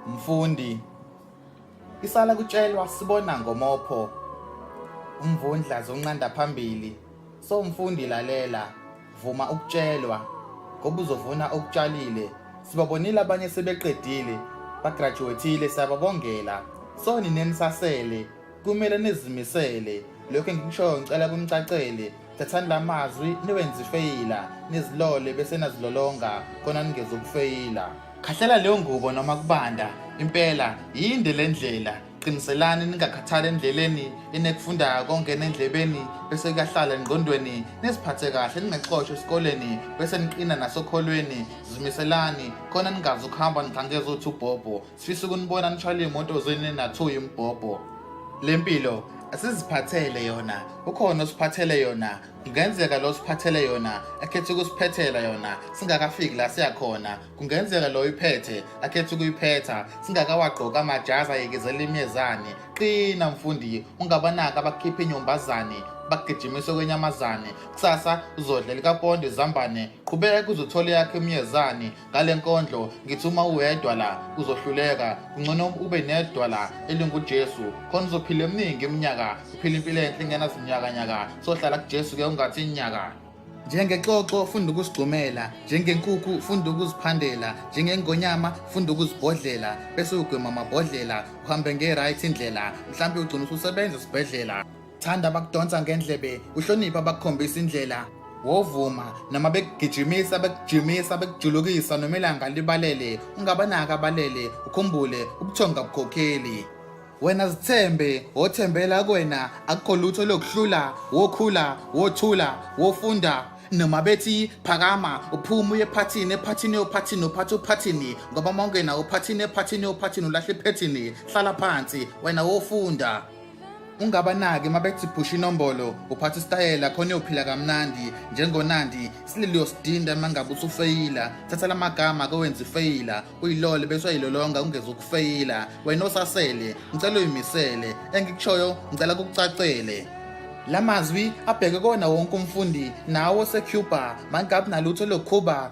Mfundi Isala kutshelwa sibona ngomopho umvundla zonqanda phambili so mfundi lalela vuma ukutshelwa ngoba uzovuna okutshalile sibabonile abanye sebeqedile bagraduatile siyababongela so ninenisasele kumele nizimisele lokho engikushoyo ngicela kunicacele thathani la mazwi niwenze ifeyila nizilole bese nazilolonga khona ningeza ukufeyila khahlela leyo ngubo noma kubanda impela yinde le ndlela qiniselani ningakhathali endleleni enekufunda kongena endlebeni bese kuyahlala engqondweni niziphathe kahle ningaxoshwa esikoleni bese niqina nasokholweni zimiselani khona ningazi ukuhamba nigangeza uthi ubhobho Sifisa ukunibona nishayela iy'moto zeni nathuya imbhobho. Le mpilo asiziphathele yona ukhona osiphathele yona kungenzeka lo siphathele yona akhethe ukusiphethela yona singakafiki la siyakhona kungenzeka lo iphethe akhethe ukuyiphetha singakawagqoka amajazi ayekezela imyezane qina mfundi ungabanaka abakhiphe inyombazane bagijimise kwenyamazane kusasa uzodla likapondo izambane qhubeka uzothola yakhe umyezane ngale nkondlo ngithi uma uwedwa la uzohluleka kungcono ube nedwa la elingujesu khona uzophila eminingi iminyaka uphila impilo enhle ingenazinyakanyaka sohlala kujesu ke ungathi inyaka njengexoxo funda ukusigxumela njengenkukhu funda ukuziphandela njengengonyama funda ukuzibhodlela bese ugwema amabhodlela uhambe nge-right indlela mhlawumbe ugcina ususebenza esibhedlela thanda abakudonsa ngendlebe uhloniphe abakukhombisa indlela wovuma noma bekugijimisa bekujimisa bekujulukisa noma ilanga libalele ungabanaka abalele ukhumbule ubuthonga bukhokheli wena zithembe wothembela kwena akukho lutho lokuhlula wokhula wothula wofunda noma bethi phakama uphuma uye ephathini ephathini yophathini uphatha uphathini ngoba mawungena uphathini ephathini yophathini ulahle iphethini hlala phansi wena wofunda ungabanaki mabethi phusha inombolo uphatha isitayela khona uyophila kamnandi njengonandi isililo uyosidinda mangabe usufeyila thatha la magama kowenza ifeyila uyilole bese uyayilolonga ungeze ukufeyila wena osasele ngicela uyimisele engikushoyo ngicela kukucacele la mazwi abheke kona wonke umfundi nawo osecuba mangabi nalutho lokhuba